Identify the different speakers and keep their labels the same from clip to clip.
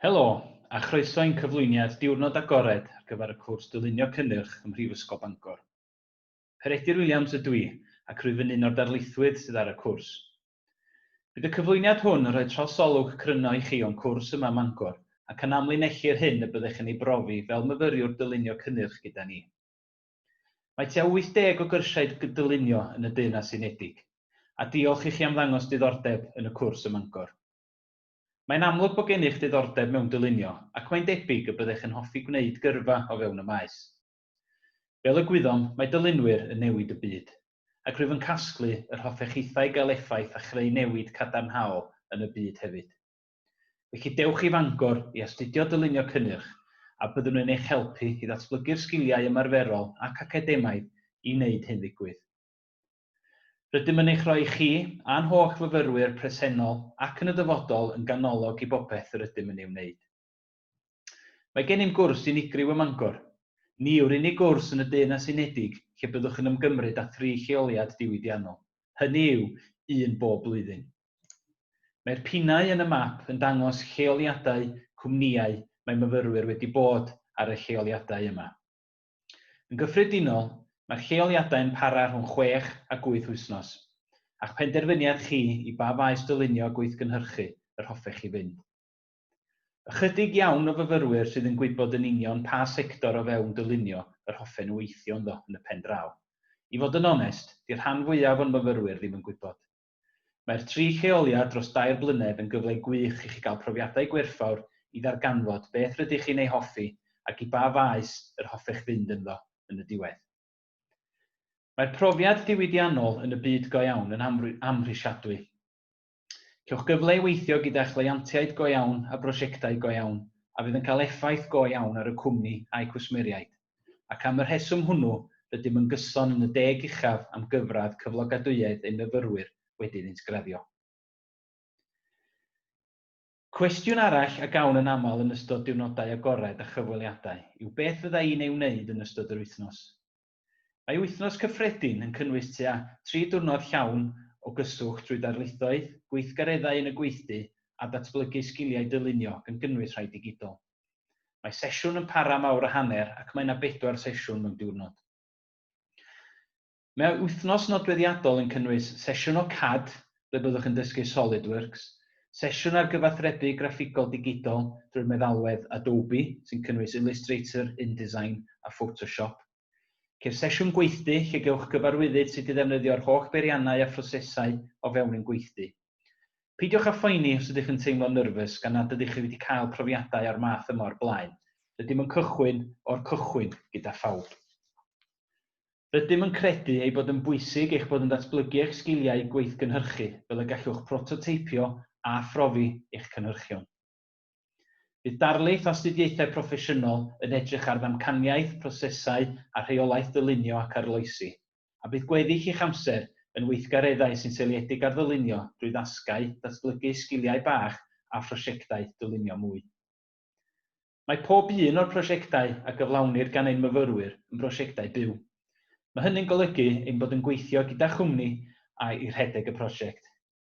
Speaker 1: Helo, a chroeso i'n cyflwyniad diwrnod agored ar gyfer y cwrs Dylunio Cynnyrch ym Mhrifysgol Bangor. Peredur Williams ydw i, ac rwyf yn un o'r darlithwyr sydd ar y cwrs. Bydd y cyflwyniad hwn yn rhoi trosolwg cryno i chi o'n cwrs yma ym Mangor ac yn amlinellu'r hyn y byddech yn ei brofi fel myfyriwr dylunio cynnyrch gyda ni. Mae tua 80 o gyrsiau dy dylunio yn y Deyrnas Unedig, a diolch i chi am ddangos diddordeb yn y cwrs ym Mangor. Mae'n amlwg bod gennych ddiddordeb mewn dylunio ac mae'n debyg y byddech yn hoffi gwneud gyrfa o fewn y maes. Fel y gwyddom, mae dylunwyr yn newid y byd, ac rwyf yn casglu yr hoffech hithau gael effaith a chreu newid cadarnhaol yn y byd hefyd. Felly dewch i Fangor i astudio Dylunio Cynnyrch a byddwn yn eich helpu i ddatblygu'r sgiliau ymarferol ac academaidd i wneud hyn ddigwydd. Rydym yn eich rhoi chi, a'n holl fyfyrwyr presennol ac yn y dyfodol yn ganolog i bopeth yr ydym yn ei wneud. Mae gennym gwrs unigryw ym Mangor. Ni yw'r unig gwrs yn y Deyrnas Unedig lle byddwch yn ymgymryd â thri lleoliad diwydiannol, hynny yw, un bob blwyddyn. Mae'r pinnau yn y map yn dangos lleoliadau cwmnïau mae myfyrwyr wedi bod ar y lleoliadau yma. Yn gyffredinol, mae'r lleoliadau yn para rhwng chwech a gwyth wythnos, a'ch penderfyniad chi i ba faes dylunio a gweithgynhyrchu yr hoffech chi fynd. Ychydig iawn o fyfyrwyr sydd yn gwybod yn union pa sector o fewn dylunio yr hoffen nhw weithio ynddo yn y pen draw. I fod yn onest, 'di'r rhan fwyaf o'n myfyrwyr ddim yn gwybod. Mae'r tri lleoliad dros dair blynedd yn gyfle gwych i chi gael profiadau gwerthfawr i ddarganfod beth rydych chi'n ei hoffi ac i ba faes yr hoffech fynd ynddo yn y diwedd. Mae'r profiad diwydiannol yn y byd go iawn yn amhrisiadwy. Cewch gyfle i weithio gyda chleientiaid go iawn a brosiectau go iawn a fydd yn cael effaith go iawn ar y cwmni a'i cwsmeriaid. Ac am y rheswm hwnnw, rydym yn gyson yn y deg uchaf am gyfradd cyflogadwyedd ein myfyrwyr wedi iddynt graddio. Cwestiwn arall a gawn yn aml yn ystod diwrnodau agored a chyfweliadau yw beth fydda i'n ei wneud yn ystod yr wythnos? Mae Wythnos Cyffredin yn cynnwys tua tri diwrnod llawn o gyswllt drwy darlithoedd, gweithgareddau yn y gweithdy a datblygu sgiliau dylunio, gan gynnwys rhai digidol. Mae sesiwn yn para am awr a hanner ac mae yna bedwar sesiwn mewn diwrnod. Mae Wythnos Nodweddiadol yn cynnwys sesiwn o CAD, ble byddwch yn dysgu SolidWorks, sesiwn ar gyfathrebu graffigol digidol drwy'r meddalwedd Adobe, sy'n cynnwys Illustrator, InDesign a Photoshop. Ceir sesiwn gweithdy lle gewch gyfarwyddyd sut i ddefnyddio'r holl beiriannau a phrosesau o fewn ein gweithdy. Peidiwch â phoeni os ydych yn teimlo'n nyrfys gan nad ydych chi wedi cael profiadau o'r math yma o'r blaen, rydym yn cychwyn o'r cychwyn gyda phawb. Rydym yn credu ei bod yn bwysig eich bod yn datblygu eich sgiliau gweithgynhyrchu fel y gallwch prototeipio a phrofi eich cynhyrchion. Bydd darlith astudiaethau proffesiynol yn edrych ar ddamcaniaeth, prosesau a rheolaeth ddylunio ac arloesi, a bydd gweddill eich amser yn weithgareddau sy'n seiliedig ar ddylunio drwy ddasgau, datblygu sgiliau bach a phrosiectau dylunio mwy. Mae pob un o'r prosiectau a gyflawnir gan ein myfyrwyr yn brosiectau byw. Mae hynny'n golygu ein bod yn gweithio gyda chwmni a i rhedeg y prosiect.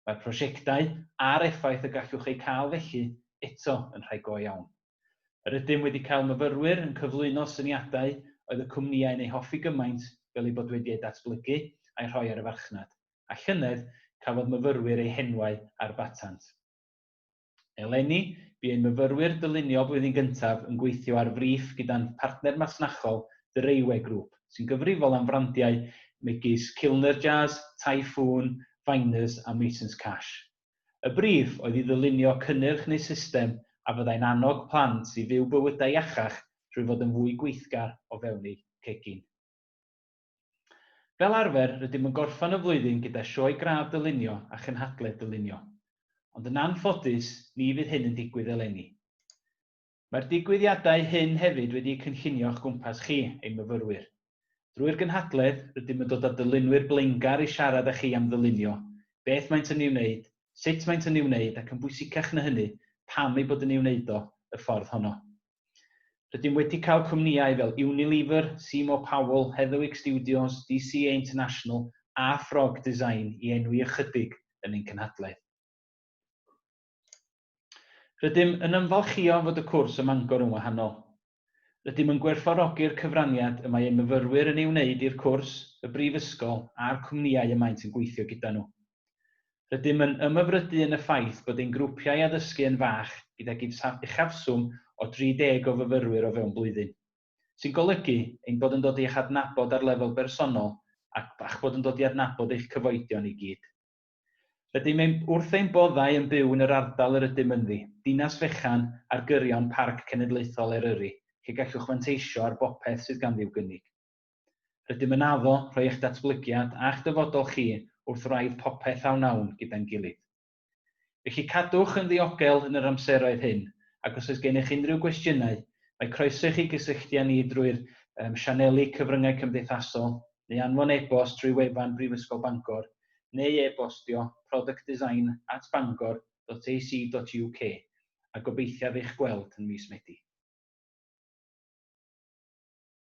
Speaker 1: Mae'r prosiectau a'r effaith y gallwch eu cael felly eto yn rhai go iawn. Yr ydym wedi cael myfyrwyr yn cyflwyno syniadau oedd y cwmnïau'n eu hoffi gymaint fel eu bod wedi eu datblygu a'u rhoi ar y farchnad, a llynedd cafodd myfyrwyr eu henwau ar batant. Eleni, bu ein myfyrwyr dylunio blwyddyn gyntaf yn gweithio ar frîff gyda'n partner masnachol The Rayway Group, sy'n gyfrifol am frandiau megis Kilner Jazz, Typhoon, Viners a Masons Cash. Y brîff oedd i ddylunio cynnyrch neu system a fyddai'n annog plant i fyw bywydau iachach trwy fod yn fwy gweithgar o fewn eu cegin. Fel arfer, rydym yn gorffen y flwyddyn gyda Sioe Gradd Dylunio a Chynhadledd Dylunio. Ond yn anffodus, ni fydd hyn yn digwydd eleni. Mae'r digwyddiadau hyn hefyd wedi'u cynllunio o'ch gwmpas chi, ein myfyrwyr. Drwy'r gynhadledd, rydym yn dod â dylunwyr blaengar i siarad â chi am ddylunio, beth maent yn ei wneud, sut maent yn ei wneud ac yn bwysicach na hynny, pam eu bod yn ei wneud o y ffordd honno. Rydym wedi cael cwmnïau fel Unilever, Seymour Powell, Heatherwick Studios, DCA International a Frog Design i enwi ychydig yn ein cynhadledd. Rydym yn ymfalchïo fod y cwrs ym Mangor yn wahanol. Rydym yn gwerthfawrogi'r cyfraniad y mae ein myfyrwyr yn ei wneud i'r cwrs, y brifysgol a'r cwmnïau y maent yn gweithio gyda nhw. Rydym yn ymhyfrydu yn y ffaith bod ein grwpiau addysgu yn fach gydag uchafswm o 30 o fyfyrwyr o fewn blwyddyn, sy'n golygu ein bod yn dod i'ch adnabod ar lefel bersonol ac a'ch bod yn dod i adnabod eich cyfoedion i gyd. Rydym ein wrth ein boddau yn byw yn yr ardal yr ydym ynddi, dinas fechan ar gyrion Parc Cenedlaethol Eryri, lle gallwch fanteisio ar bopeth sydd ganddi i'w gynnig. Rydym yn addo rhoi eich datblygiad a'ch dyfodol chi wrth wraidd popeth a wnawn gyda'n gilydd. Felly cadwch yn ddiogel yn yr amseroedd hyn ac os oes gennych unrhyw gwestiynau, mae croeso i chi gysylltu â ni drwy'r sianeli cyfryngau cymdeithasol neu anfon e-bost trwy wefan Brifysgol Bangor neu e-bostio productdesign at bangor dot ac dot uk a gobeithiaf eich gweld yn mis Medi.